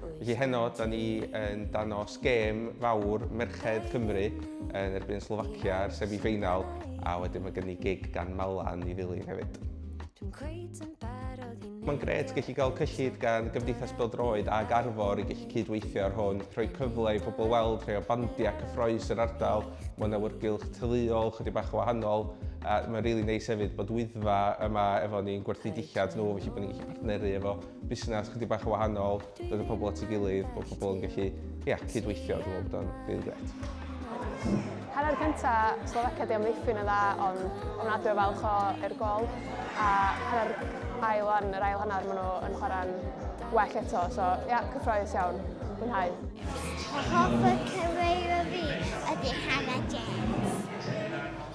Felly heno, da ni yn danos gêm fawr Merched Cymru yn erbyn Slovacia ar semi-final, a wedyn mae gen i gig gan Malan i ddilyn hefyd. Mae'n gret gallu cael cyllid gan Gymdeithas Bildroed a Garfor i gallu cydweithio ar hwn, rhoi cyfle i bobl weld rhai o bandiau cyffroes yr ardal, mae'n awyrgylch tyluol, chydig bach wahanol, a mae'n rili really neis hefyd bod wyddfa yma efo ni'n gwerthu dillad nhw, felly bod ni'n gallu partneru efo busnes chydig bach yn wahanol, dod y pobl at ei gilydd, bod pobl yn gallu ia, cydweithio, dwi'n meddwl bod o'n rili gret. Hanner cynta, Slovakia di amddiffyn yn dda, ond ofnadwy o falch o'r gol. A hanner ail o'n, yr ail hanner, maen nhw yn chwarae'n well eto, so ia, cyffroes iawn, mwynhau. Hoff y cyrraedd o fi ydy Hannah James.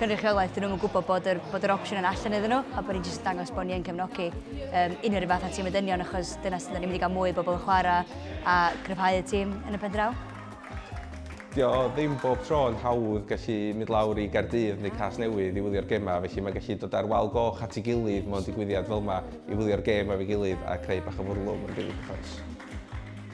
cynrychiolaeth, 'dyn nhw ddim yn gwybod bod yr, bod yr opsiwn yn allan iddyn nhw, a bod ni'n jyst dangos bod ni yn cefnogi um, unrhyw rhyw fath a tîm y dynion, achos dyna sydd ni'n mynd i gael mwy o bobl yn chwarae a gryfhau y tîm yn y pendraw. Dio ddim bob tro yn hawdd gallu mynd lawr i Gardydd neu Cas Newydd i wylio'r gemau, felly mae gallu dod ar wal goch at ei gilydd mewn digwyddiad fel yma i wylio'r gem efo'i gilydd a creu bach o fwrlwm yn rili cyffrous.